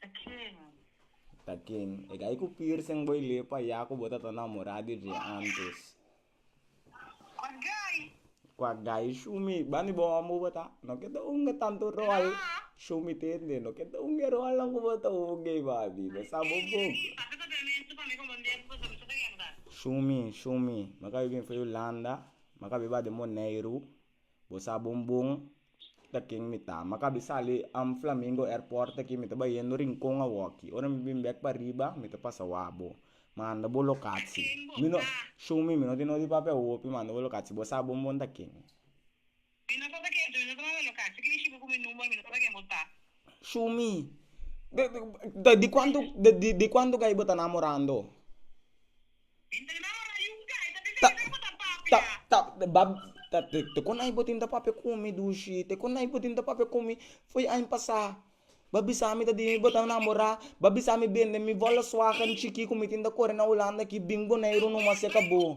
Ta ken? Ta ken? E gai ku piercing bo i lei pa ya ku bo ta ta namorá di dje antes. Kwak gai? Kwak gai show mi. Bani bo hòmber bo ta? No ke ta hunga tantu ròl. Tra. Show mi tende. No ke ta hunga e ròlnan ku bo ta hunga ei babi. Bo sa bo Ey, bok. Ey, pasa kontramentu pa mi komo un dia ku bo sa mester ta gèk nan. Show mi, show mi. Mi a kabe bin for Hulanda. Mi a kabe ba den Boneiru. Bo sa bon bon ta ken mi ta. Maka a bin sali am Flamingo Airport aki mi ta bai yendo Rincon awoki. Ora mi bin bek pariba mi ta pasa wak bo. Manda bo lokatsi. Mi no show mi mi no tin noti papia hopi manda bo lokatsi. Bo sa bon bon ta ken. Mi no tata ken so mi no ta manda lokatsi. Kiko shiba ku mi number mi no tata ken bo ta. Show mi di kuantu di kuantu gai bo ta namorando. Ta, ta, ta, ba, ta, te, te kon ai bo tin ta papia ku mi dushi? Te kon ai bo tin ta papia ku mi? Foi aña pasa, ba bisa mi ta di bo ta namora, ba bisa mi bende mi volkswagen chiki ku mi tin ta kore na hulanda aki bin Boneiru no mas e kabo.